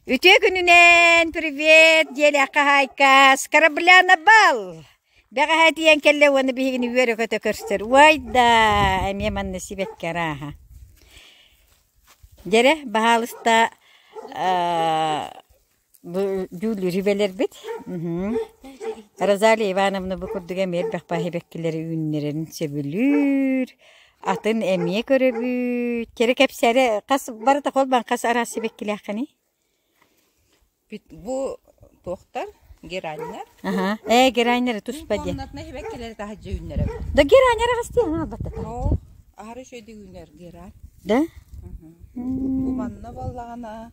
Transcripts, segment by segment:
Үтүө күнүнэн привет диэлээххэ хаайкас Кораблянабал! Бэҕэһээ тиийэн кэллэ уонна биһигини үөрэ-көтө көрсөр. Уайда! Эмиэ манна сибэкки арааһа. Дьэрэ, баһаалыста бу дьүүллүүр сүбэлэрбит. Розалия Ивановна бу курдук эмиэр бэхпэ сибэккилэри үүннэрэрин сөбүлүүр. атын эмиэ көрөбүт кэрэ кэпсэрэ хас барыта холбаан хас араас сибэккилээххиний Бит бу туохтар гераннер аха ээ гераннеры туспа диэн комнатна сибэккилэри таһыдьа үүннэрэ да гераннер хас диэн албатта оо аһары үчүгэй үүнэр геран да бу манна буоллаҕына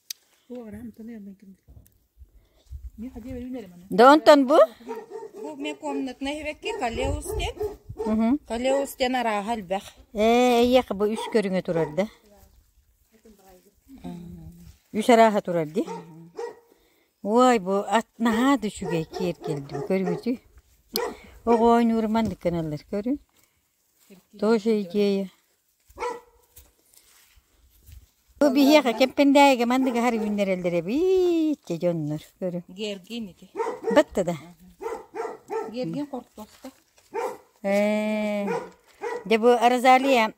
Да онтон бу? Бу мне комнатнай эбекки Калеустен. Калеустен арааһа элбэх. Ээ, эйиэхэ бу үс көрүҥэ турар да? Үс арааһа турар ди? Ой, бу ат наһаа да үчүгэй киэр келди бу көргүтү. Оҕой нуурманнык кыналлар көрү. Тоже идея. Бу биһиэхэ Кэппэндээйигэ мандыгаһар үүннэрэллэр эбиитчэ дьоннор көрү. Гергин ити. Батта да. Гергин хортуоста. Ээ. Дьэ бу Розалия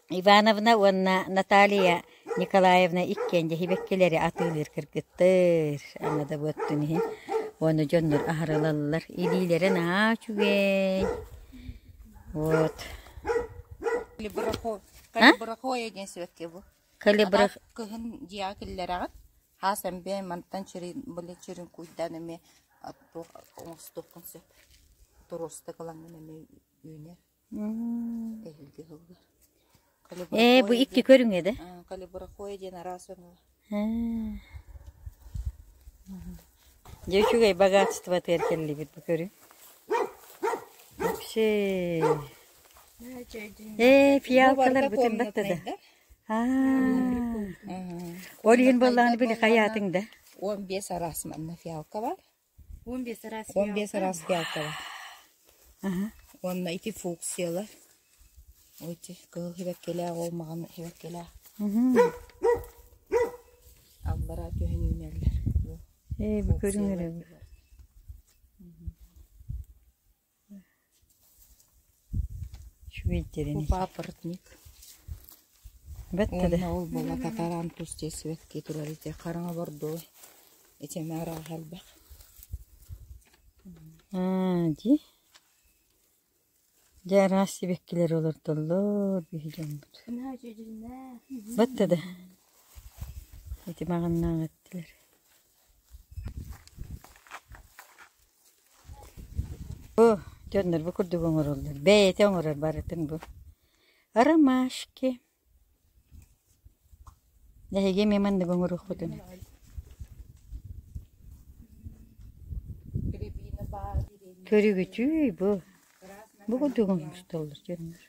Ивановна уонна Наталья Николаевна иккиэн дьэһибэккилэри атыылыыр кыргыттар, аҥадабыаттын иһин уонна дьоннор аһара ылаллар. Илиилэрэ наһаа үчүгэй. Вот. Калибрахо- Калибрахоя диэн сибэкки бу. Калибрах... Аҕа кыһын дьиэҕэ киллэрэҕин. Хаас эмбэ мантан чирин были чирин куйдаан эмэ оттуох оҥостуоххун сөп. Туруоста кылаҥын эмэ үүнэр. Эһилги тылыгар. Э, бу икки көрүҥэ да? Калибракоя диэн араас өҥө. Дьэ, үчүгэй богатство теркеллибит бу көрү. Вообще. Э, фиалкалар бүтүн баттада. Ол иһин боллааны били хаятың да. 15 арас манна фиалка бар. Он биэс араас геалталар уонна ити функциялар эти кыһыл сибэккилээх ол маҕан сибэккилээх аллараа түһэн үүнэллэр ээ бу көрүҥ эрэ уонна ол буола татараан тус тиэрсибэттии турар ити хараҥа бордуой итини араҕаһа элбэх дии дьэ араас сибэккилэр олордоллор дьоммут бат да ити маҕаннаан эттилэр Бу дьоннорбо курдук оҥороллор, бэйэтэ оҥорор барытын бу. Ромашки. Эһиги эмиэ манныгы оҥоруоххутун сөп. Көрүгүтүй бу. Бу курдук оҥостоллор дьоннор.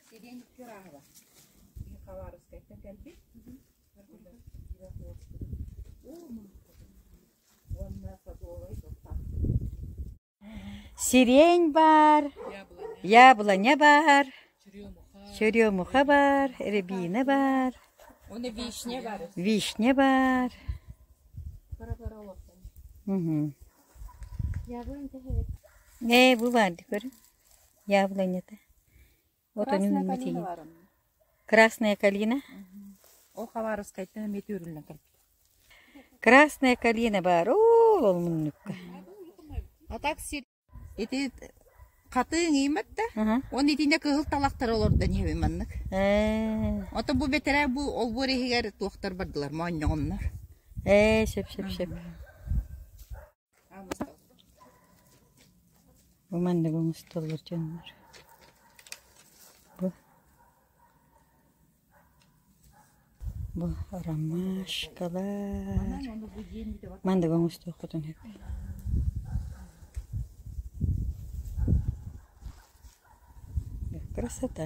Сириэн баар, яблоня баар, черемуха баар, рябина баар, вишня баар. Не, бу бар, көрү. Яблонята. Вот они Красная калина метигин. барын. Красная калина. Ол хабарыскайтан эмиэ түүрүллэн кэлбит. Красная калина бар. Ол ол муннукка. А так сир ити хатыың иймет да, Аха. он итине кыһыл талахтары олордон иһэбин маннык. Ээ. Ото бу бэтэрээ бу олбуор иһигэр туохтар бардылар моонньоҕоннор. Ээ, шеп шеп шеп. Бу манныгы оҥостоллор дьоннор. Бу бу ромашкалар. Манныгы оҥостуоххутун сөп. Красота.